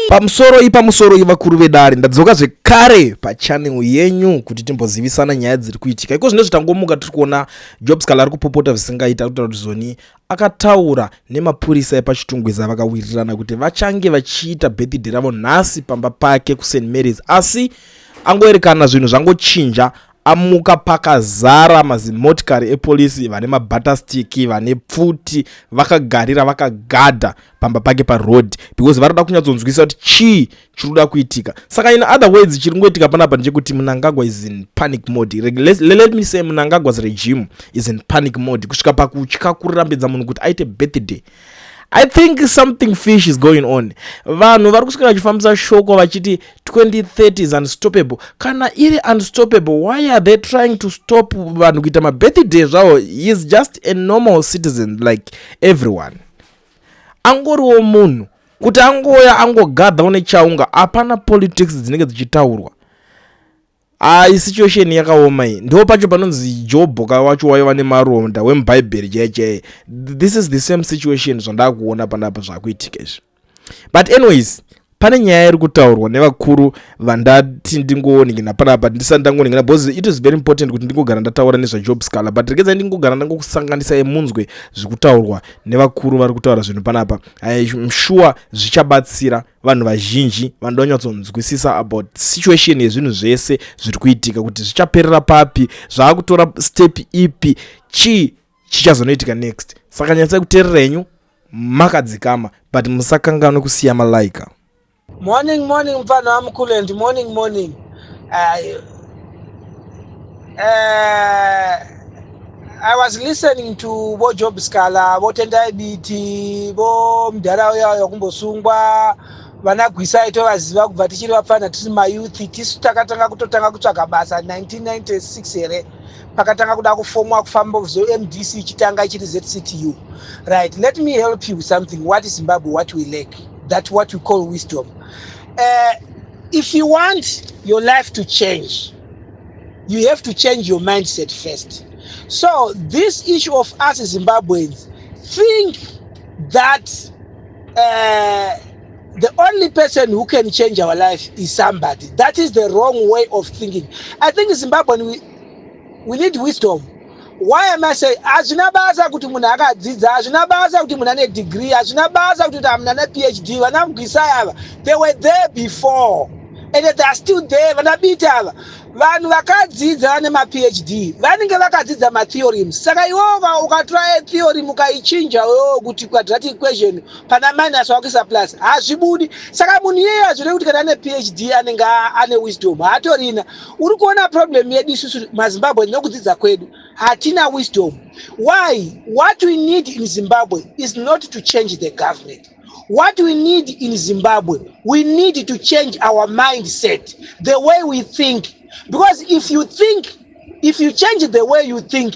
pamusoro ipamusoro ivakuru vedare ndadzoka zvekare pachanel yenyu kuti timbozivisana nyaya dziri kuitika iko zvine zvitangomuka tiri kuona job scal ari kupopota zvisingaita kutaura kuti zoni akataura nemapurisa epachitungwiza vakawirirana kuti vachange vachiita birthday ravo nhasi pamba pake kust marys asi angoerekana zvinhu zvangochinja amuka pakazara mazimotikari epolisi vane mabatastiki vane pfuti vakagarira vakagadha pamba pake paroad because vanoda kunyatsonzwisisa kuti chii chiri kuda kuitika saka in other words chiri kungoitika panapa ndechekuti munangagwa is in panic mode let, let me say munangagwa's regime is in panic mode kusvika pakutya kurambidza munhu kuti aite birthday i think something fish is going on vanhu vari kusvika vachifambisa shoko vachiti 2030 is unstoppable kana iri unstoppable why are they trying to stop vanhu kuita mabirthday zvavo is just a normal citizen like everyone angoriwo munhu kuti angouya angogadha une chaunga hapana politics dzinenge dzichitaurwa ai ah, situation yakaoma iyi ndo pacho panonzi jobhoka wacho waiva nemaronda wemubhaibheri chaiye chaiye this is the same situation zvandakuona panapa zvakuitika izvi but anyways pane nyaya iri kutaurwa nevakuru vandati ndingooningina panapa ndisati ndangooningina because it is very important kuti ndingogara ndataura nezvajob scaler but rekedza ndingogara ndangokusanganisa yemunzwe zviri kutaurwa nevakuru vari kutaura zvinhu panapa im sure zvichabatsira vanhu vazhinji vanoda kunyatsonzwisisa about situation yezvinhu zvese zviri kuitika kuti zvichaperera papi zvaakutora step ipi chii chichazonoitika next saka nyatsai kuterera henyu makadzikama but musakanganwe kusiya malaika morning morning mfana wamkulent morning morning uh, uh, i was listening to vo job scala votendai biti vo mdhara uya uya kumbosungwa vana gwisa itovaziva kubva tichiri vapfana tiri mayouth tisu takatanga kutotanga kutsvaga basa 1996 here pakatanga kuda kufomwa kufamba zomdc ichitanga ichiri zctu right let me help you with something what is zimbabwe what we lack that what we call wisdom uh, if you want your life to change you have to change your mindset first so this issue of us zimbabweans think that uh, the only person who can change our life is somebody that is the wrong way of thinking i think zimbabwean we we need wisdom why am i saying hazvina basa kuti munhu akadzidza hazvina basa kuti munhu ane degree hazvina basa kuti kuti hamuna ane phd vana mgwisai ava they were there before and they are still there vana biti ava vanhu vakadzidza vane maphd vanenge vakadzidza matheorems saka iwoka ukatora theorem ukaichinja wewo kuti quadratic equation pana minus wakuisa plus hazvibudi saka munhu iyeyo hazvire kuti kana ane phd anenge ane wisdom haatorina uri kuona problem yedu isusu mazimbabwe nekudzidza kwedu hatina wisdom why what we need in zimbabwe is not to change the government what we need in zimbabwe we need to change our mindset the way we think because if you think if you change the way you think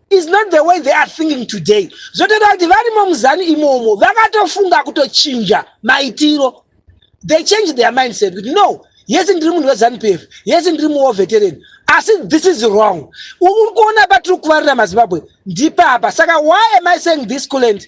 is not the way they are thinking today zvotoda kuti varimo muzanu imomo vakatofunga kutochinja maitiro they change their mindset kuti no yese ndiri munhu wezanu p f yese ndiri muwo veteran asi this is wrong uri kuona patiri kuvarira mazimbabwe ndipapa saka why am i saying this kuland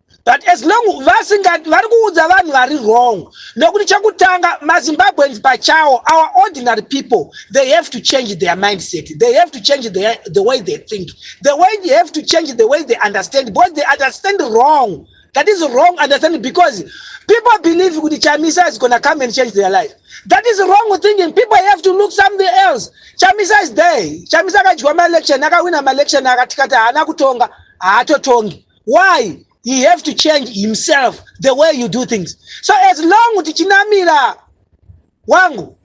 but as long vasinga vari kuudza vanhu vari wrong nekuti chekutanga mazimbabweans pachawo our ordinary people they have to change their mindset they have to change their, the way they think the way they have to change the way they understand because they understand wrong that is wrong understanding because people believe kuti chamisa is gonna come and change their life that is wrong thinking people have to look something else chamisa is there chamisa akadyiwa maelection akawina maelection akatikati haana kutonga haatotongi why he have to change himself the way you do things so as long tichinamira wangu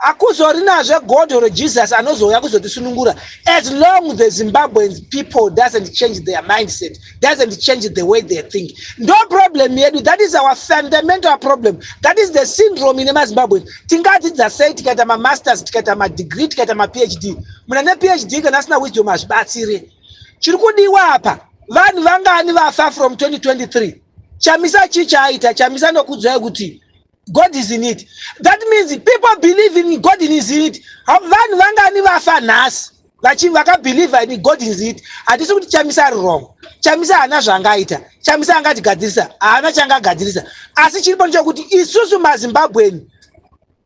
akuzorina zvegodho rejesus anozouya kuzotisunungura as long the zimbabweans people doesn't change their mindset doesn't change the way they think ndo problem yedu that is our fundamental problem that is the syndrome ine mazimbabwean tingadzidza sei tikaita mamasters tikaita madegree tikaita maphd muna nephd kana asina wisdom hazvibatsire chiri kudiwa apa vanhu vangani vafa from 2023 chamisa chii chaaita chamisa nokudzwai kuti god is in it that means people believe in god in is in it vanhu vangani vafa nhasi vachi vakabhilivha in god is it hatisi kuti chamisa ari wrong chamisa haana zvaangaita chamisa angatigadzirisa haana chaangagadzirisa asi chiripo ndechokuti isusu mazimbabweni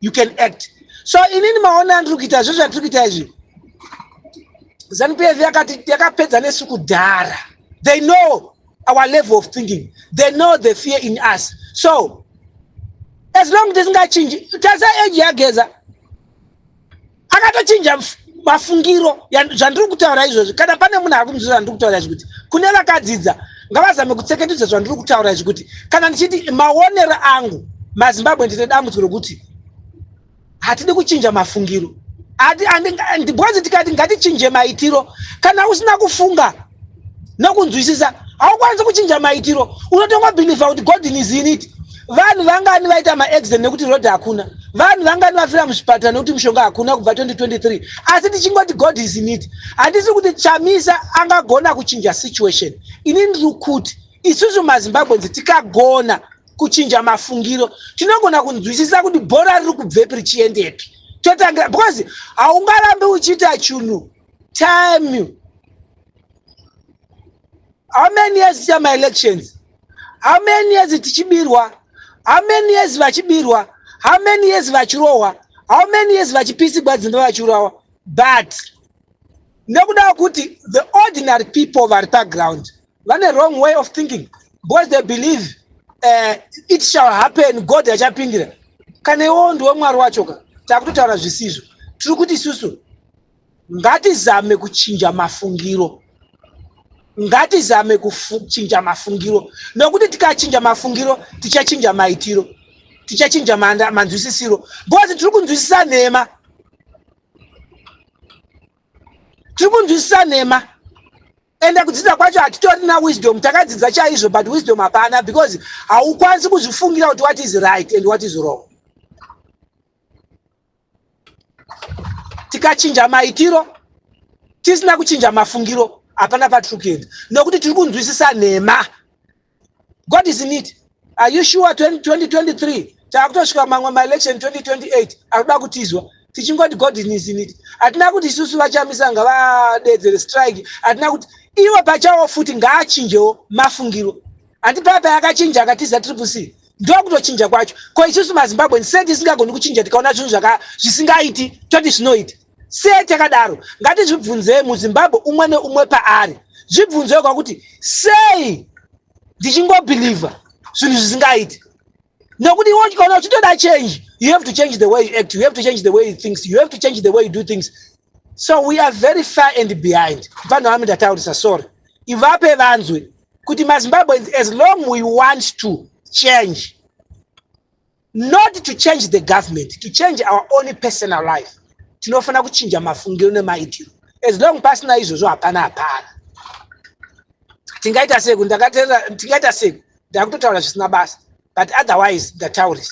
you can act so inini maona andiri kuita zve zvatiri kuita izvi zanu pf yakati yakapedza nesu kudhara they know our level of thinking they know the fear in us so as long tisingachinji tasa age yageza akatochinja mafungiro zvandiri kutaura izvozvi kana pane munhu ari kunzvira zvandiri kutaura izvi kuti kune vakadzidza ngavazame kutseketedza zvandiri kutaura izvi kuti kana ndichiti maonero angu mazimbabwe ndine dambudziko rokuti hatidi kuchinja mafungiro bhozi tikati ngatichinje maitiro kana usina kufunga nekunzwisisa haukwanisi kuchinja maitiro unotongo believe kuti god is in it vanhu vangani vaita maaccident nekuti road hakuna vanhu vangani vafira muzvipatara nekuti mushonga hakuna kubva 2023 asi tichingoti god is in it handisi kuti chamisa angagona kuchinja situation ini ndiri kuti isusu mazimbabwenzi tikagona kuchinja mafungiro tinogona kunzwisisa kuti bhora riri kubvepi richiendepi totangira because haungarambi uchiita chunhu time how many years ticha maelections how many years tichibirwa how many years vachibirwa how many years vachirohwa how many years vachipisigwa dzimba vachiurawa but nekuda kuti the ordinary people vari paground vane wrong way of thinking because they believe uh, it shall happen god achapindira kana iwowo ndiwe mwari wachoka takutotaura zvisizvo tiri kuti isusu Ngatizame kuchinja mafungiro. Ngatizame kuchinja mafungiro nokuti tikachinja mafungiro tichachinja maitiro, tichachinja manzwisisiro because tiri kunzwisisa nhema, tiri kunzwisisa nhema ende kudzidza kwacho hatitorina wisdom. Takadzidza chaizvo but wisdom hapana because haukwanisi kuzvifungira kuti what is right and what is wrong. tikachinja maitiro tisina kuchinja mafungiro hapana patiri kuenda nokuti tiri kunzwisisa nhema god is in it are you sure 2023 taakutosvika mamwe maelection 2028 akuda kutizwa tichingoti god is in it hatina kuti isusu vachamisa ngavadeedzere strike hatina kuti ivo pachawo futi ngaachinjewo mafungiro handi paya payakachinja akatiza triple c ndokutochinja kwacho ko isusu mazimbabwen se tisingagoni kuchinja tikaona zvinhu zvaka zvisingaiti toti zvinoita se takadaro ngatizvibvunzei muzimbabwe umwe neumwe paari zvibvunzei kwakuti sei ndichingobhilivha zvinhu zvisingaiti nokuti iwo ukaona uchitoda change you have to change the way you act you have to change the way you thinks you have to change the way you do things so we are very far and behind vanhu vami ndataurisa sorry ivape vanzwe kuti mazimbabweans as long we want to change not to change the government to change our own personal life tinofanira kuchinja mafungiro nemaitiro as long pasina izvozvo hapana hapana tingaita seku ndakateera tingaita seku ndakutotaura zvisina basa but otherwise ndataurisa